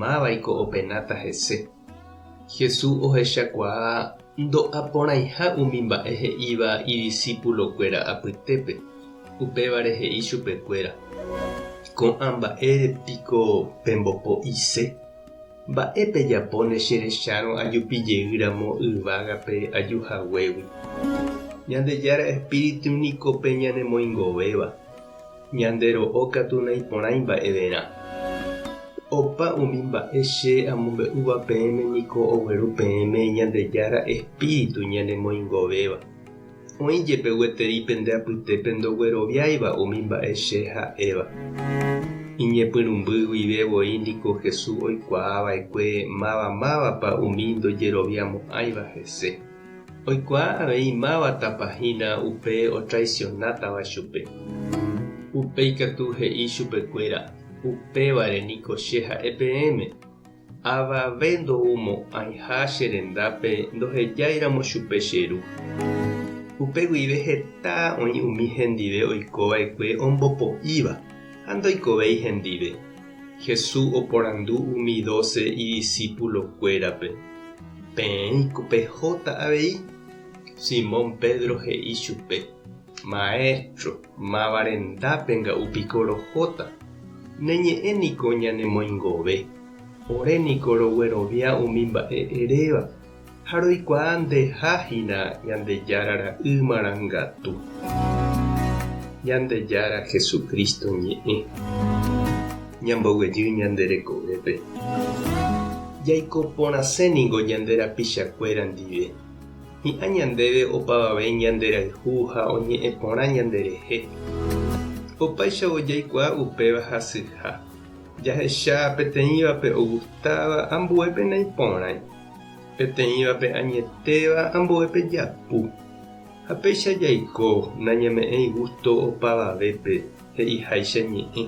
Mávaiko openáta hese? Jesús ohechakuaa ndo'aporãiha umi mba'e he'íva idisipulokuéra apytépe, upévare he'i chupekuéra, Ko'ã mba'ére piko pembopo'ise? Mba'e pejapóne che rechárõ ajupi jey ramo yvágape aju haguégui? Ñandejára Espíritu niko pe ñanemoingovéva. Ñande ro'o katu naiporãi mba'everã. Opa umi mba'e che amombe'úva peẽme niko ogueru peẽme Ñandejára espíritu ñanemoingovéva. Oĩ jepe gueteri pende apytépe ndogueroviáiva umi mba'e che ha'éva. Iñepyrũmby guive voi niko Jesús oikuaa va'ekue máva mávapa umi ndojeroviamo'ãiva hese. Oikuaa avei máva tapa hína upe otraicionátava chupe. Upe ikatu he'i chupekuéra, Upévare niko che ha'e peẽme, Avave ndoumo'ãiha che rendápe ndohejáiramo chupe che ru. Upe guive heta oĩ umi hendive oikova'ekue ombopo'íva ha ndoikovéi hendive. Hesu oporandu umi dóse idisipulokuérape, Peẽiko pehóta avei? Simón Pedro he'i chupe, Maéstro, máva rendápe nga'u piko rohóta? Ne ñe'ẽ niko ñanemoingove. Ore niko roguerovia umi mba'e eréva. ha roikuaa ndeha hína Ñandejára ra'y marangatu, Ñandejára Jesucristo ñe'ẽ. Ñamboguejy ñande rekovépe. Jaiko porãse ningo ñande rapichakuéra ndive. Hi'ã ñandéve opavave ñanderayhu ha oñe'ẽ porã ñande rehe. Opaichavo jaikuaa upéva hasyha. Jahecha peteĩvape ogustáva ambue penaiporãi. Peteĩvape añetéva ambue pejapu, ha péicha jaiko nañame'ẽi gústo opavavépe, he'iháicha ñe'ẽ.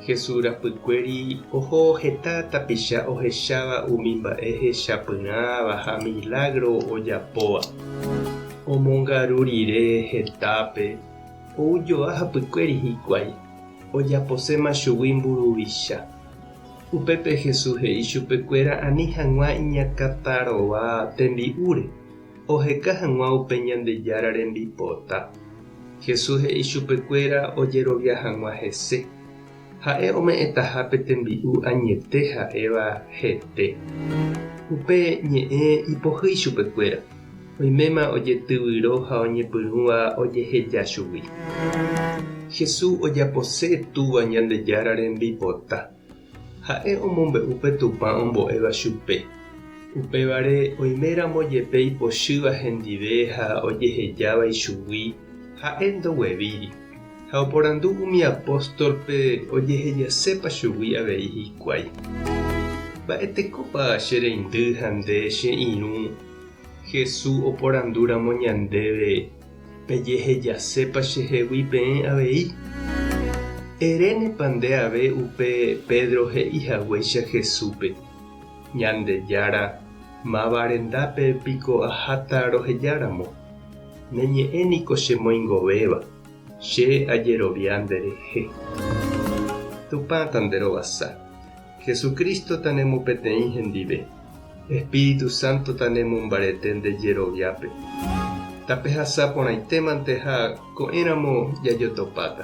Jesús rapykuéri oho heta tapicha ohecháva umi mba'e hechapyrãva ha milágro ojapóva. Omongaru rire hetápe, ou joa hapykuéri hikuái, ojaposéma chugui mburuvicha. Upépe Jesús he'i chupekuéra ani hag̃ua iñakãtarova tembi'úre, oheka hag̃ua upe Ñandejára rembipota. Jesús he'i chupekuéra ojerovia hag̃ua hese. Ha'e ome'ẽtaha pe tembi'u añete ha'éva hete. Upe ñe'ẽ ipohýi chupekuéra. Oiméma ojetyvyro ha oñepyrũva ojeheja chugui. Jesús ojapose Túva Ñandejára rembipota. Ha'e omombe'u pe Tupã ombo'éva chupe. Upévare, oiméramo jepe ipochýva hendive ha ojehejáva ichugui, ha'e ndoguevíri. Ha oporandu umi apóstolpe ojehejasépa chugui avei hikuái. Mba'etekópa che reindy ha nde che irũ? Jesús oporandúramo ñandéve, Pejehejasépa chehegui peẽ avei? Erénepa nde ave upe Pedro he'i haguéicha Jesúspe, Ñandejára, máva rendápe piko aháta rohejáramo? Ne ñe'ẽ niko chemoingovéva, che ajerovia nderehe. Tupãta nde rovasa. Jesucristo tanemo peteĩ hendive. Espíritu Santo tanemo mbarete nde jeroviápe. Tapehasa porãitémante ha ko'ẽramo jajotopáta.